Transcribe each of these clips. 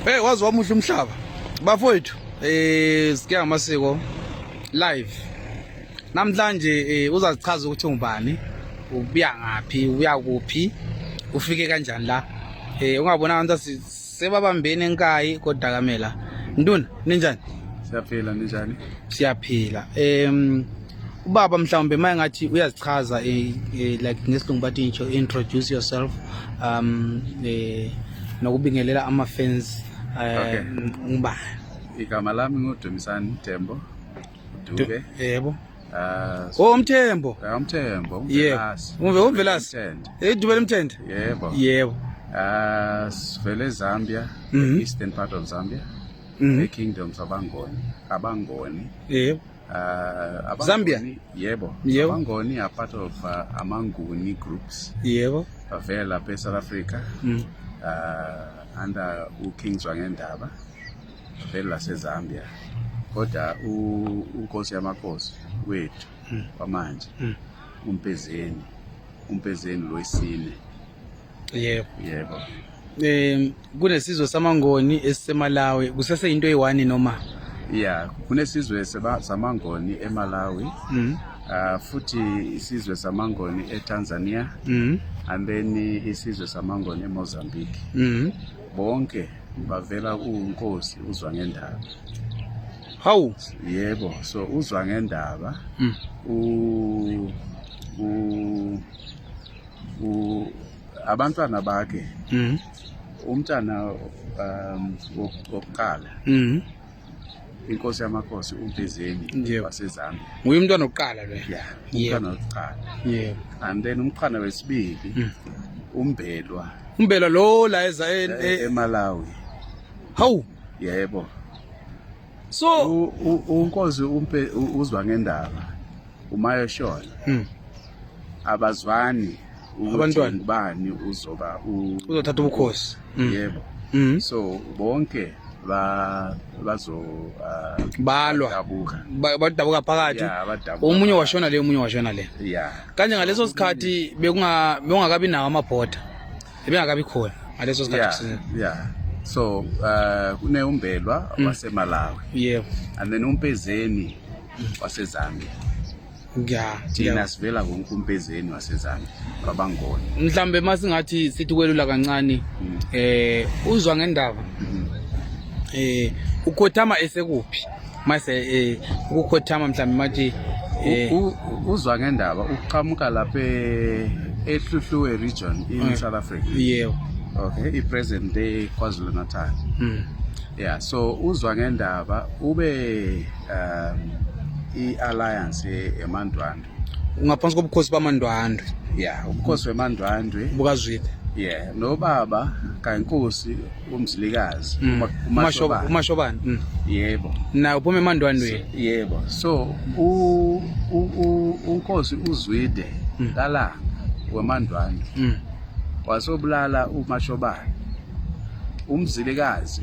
Hey wazi wamuhle umhlaba. Bafowethu eh sikiya amasiko live. Namhlanje eh, uzazichaza ukuthi ungubani, ubuya ngaphi, ubuya kuphi, ufike kanjani la. Eh ungabona abantu sebabambene enkayi kodakamela. Nduna ninjani? Siyaphila ninjani? Siyaphila. Em ubaba mhlawumbe uma engathi uyazichaza eh, eh, like ngesilungu bathi ngisho introduce yourself um eh, nokubingelela ama-fans Okay. um ngubani Igama lami nguDumisani Thembo. Dube. yebo Ah, o umthembo eh, uMthembo, yebo uMvelasi. Umve- umvelasi Mthende. edube lemthende Yebo. yebo Ah, sivele eZambia, Mhm. eastern part of Zambia, Mhm. eKingdoms abangoni, abangoni. yebo Uh, Zambia? Yebo. Yebo. Abangoni are part of uh, Amanguni groups. Yebo. Bavela lapha eSouth Africa. Mm. Uh, under uKing Zwangendaba. Bavela laseZambia. Kodwa uNkosi yamakhosi wethu mm. kwamanje mm. uMpezeni. Umpezeni lwesine. yebo yebo um kunesizwe samangoni esisemalawi kusese into eyi-one noma ya kunesizwe samangoni emalawi mm. uh, futhi isizwe samangoni etanzania mm. ambeni isizwe samangoni emozambique mm. bonke bavela kunkosi uzwa ngendaba hawu yebo so uzwa ngendaba mm. u, u abantwana bakhe mm. umntana um, wokuqala mm. inkosi yamakhosi umbizeni wasezambia nguye umntwana wokuqala lo ya umntwana wokuqala yebo and then umqhana wesibili mm. umbelwa umbelwa lo la eza e, e, emalawi hawu yebo so unkosi umpe uzwa ngendaba umayo shona hmm. abazwani abantwana ubani uzoba uzothatha ubukhosi hmm. yebo hmm. so bonke ba bazo uh, balwa badabuka phakathi omunye washona le omunye washona le kanje ngaleso sikhathi bekungakabi nawo amabhoda ebengakabi khona ngaleso sikhathi yeah, yeah. so uh, kune umbelwa mm. wasemalawi yebo yeah. and then umpezeni mm. wasezambia ya thina sivela wonke umpezeni wasezambia kwabangona mhlawumbe uma singathi sithi kwelula kancane mm. eh uzwa ngendaba mm. eh ukhothama esekuphi mase eh, ukukhothama mhlawumbe mathi eh, uzwa ngendaba uqhamuka lapha eh, ehluhluwe region in mm. south africa yebo okay i-present day kwazulu natal mm. yeah so uzwa ngendaba ube um i-alliance emandwana ngaphansi kobukhosi bamandwandwe ya ubukhosi wemandwandwe bukazwile yeah nobaba kankosi umzilikazi mm. umashobana umashobana mm. yebo na uphuma emandwandweni yebo so u unkosi uzwide mm. kala wemandwandwe wasobulala umashobana umzilikazi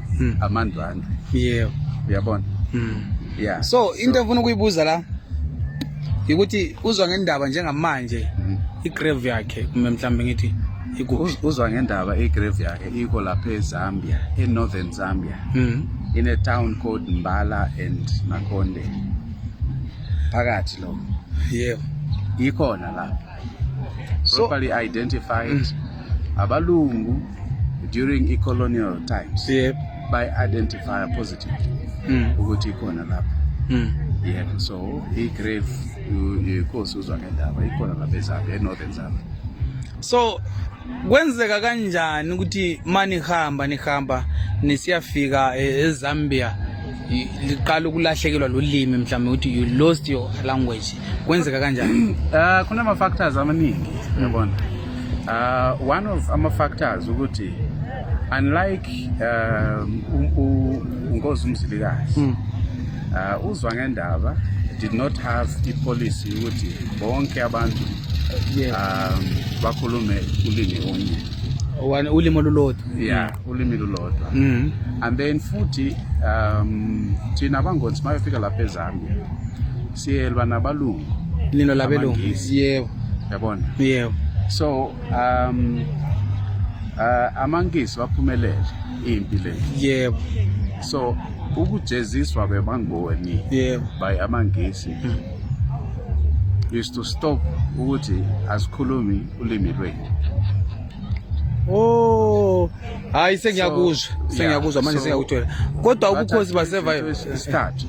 mm. amandwandwe yebo uyabona mm. yeah so into engifuna ukuyibuza la ukuthi uzwa ngendaba njengamanje mm. igrave yakhe kumbe mhlawumbe ngithi uzwa ngendaba igrave yakhe iko lapha ezambia enorthern zambia mm. in a town called mbala and makonde phakathi lo yebo ikhona lapha so, properly identified mm. abalungu during i-colonial times yep. by identify positive mm. ukuthi ikhona lapho mm. yep so i-grave inkosi uzwa ngendaba ikhona lapha ezambia e-northern zambia so kwenzeka kanjani ukuthi manihamba nihamba nisiyafika eh, ezambia liqala ukulahlekelwa lulimi mhlawumbe ukuthi you lost your language kwenzeka kanjani uh, kunama-factors amaningi yabona uh, one of ama-factors ukuthi unlike um, unkosi umzilikazi mm. uh, uzwa ngendaba did not have ipolicy ukuthi bonke abantu um, bakhulume ulimi onye ulimi olulodwa yeah mm. ulimi lulodwa mm. and then futhi um thina abangonzi mayofika lapha ezambia siyelwa nabalungu lino labelungu yebo yabona yebo so um uh, amangisi baphumelele impi le yebo so ukujeziswa bebangoni yebo by amangisi mm. is to stop ukuthi asikhulumi ulimi lwethu Oh. Hayi sengiyakuzwa. Sengiyakuzwa manje sengiyakuthola. Kodwa ubukhosi basevayo isithathu.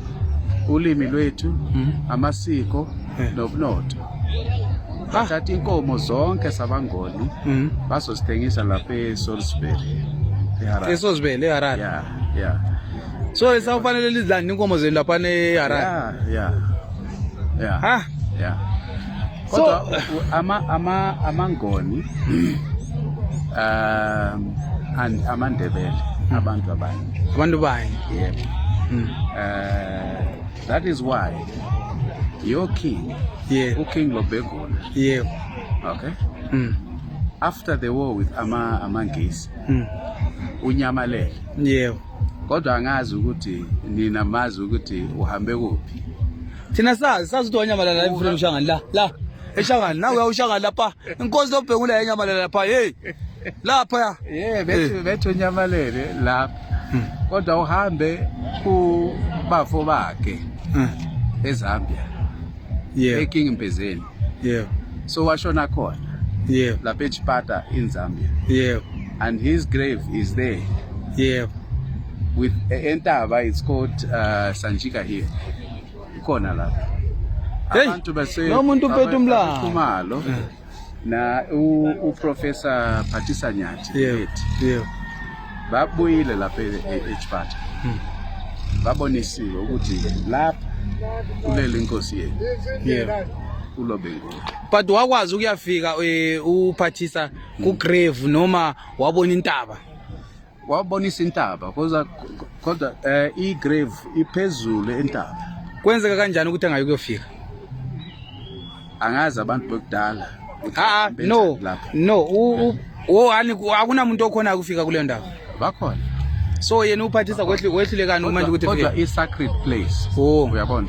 Ulimi lwethu, hmm. amasiko eh. nobunotho. Ah. Bathatha inkomo zonke sabangoni hmm. bazosithengisa lapha eSalisbury. ESalisbury eHarare. Yeah, yeah. So isawufanele lizilande inkomo zenu lapha eHarare. Yeah, yeah. Yeah. Ha? Yeah. Kodwa ama ama amangoni um and amandebele abantu abanye. Abantu bani? Yebo. Mm. Uh, that is why your king yeah. uking lobegula yebo yeah. okay mm. after the war with ama amangisi mm. unyamalele yebo yeah. kodwa angazi ukuthi nina mazi ukuthi uhambe kuphi thina sazi sazi ukuthi wanyamalala la emfuleni ushangani la la eshangani nawe uyawushangani lapha inkosi lobhekula yanyamalala lapha yeyi lapha ye bethu eh. bethu nyamalele lapha hmm. kodwa uhambe kubafo bakhe hmm. ezambia yeah. eking mpezeni yeah. so washona khona yeah. lapha echipata in zambia yeah. and his grave is there yeah. with entaba it's called uh, sanjika here Ikhona lapho. Hey, Abantu base lo muntu uphethe umlando. Khumalo na u, u professor Phathisa Nyathi. Yebo. ethi, Yebo. Babuyile lapha e- e- eChipata. Hmm. Babonisiwe ukuthi lapha kulele inkosi yenu Yebo. uLobengula. But wakwazi ukuyafika eh, uphathisa ku grave noma wabona intaba. wabonisa intaba kodwa kodwa eh i grave iphezulu entaba kwenzeka kanjani ukuthi angayi kuyofika angazi abantu bokudala ha no no u o ani akunamuntu okhona ukufika kule ndawo bakhona so yena uphathisa kwehlulekani uma ukuthi kodwa i sacred place oh uyabona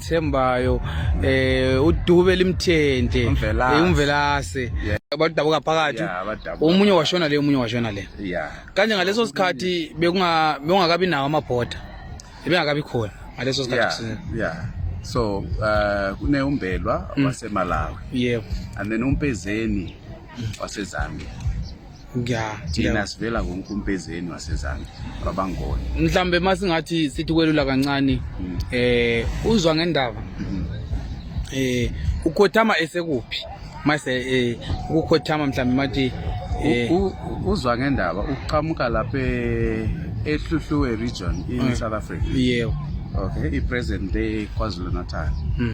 Thembayo eh udube limthente Umvelase. eh, umvelase Yeah. abadabuka phakathi Yeah, abadabuka omunye washona le omunye washona le ya kanje ngaleso sikhathi bekunga bekungakabi nawo amabhoda ebengakabi khona ngaleso sikhathi ya kusi- ya so uh, kuneumbelwa wasemalawi yebo and then umpezeni wasezambia ya thina sivela konkumpezeni wasezambia babangoni mhlawumbe uma singathi sithi kwelula kancane um uzwa ngendaba um ukhothama esekuphi mase eh ukukhothama mhlawumbe mathi eh, uzwa ngendaba uqhamuka lapha eh, ehluhluwe region in eh, South Africa yebo okay i president le KwaZulu Natal hmm.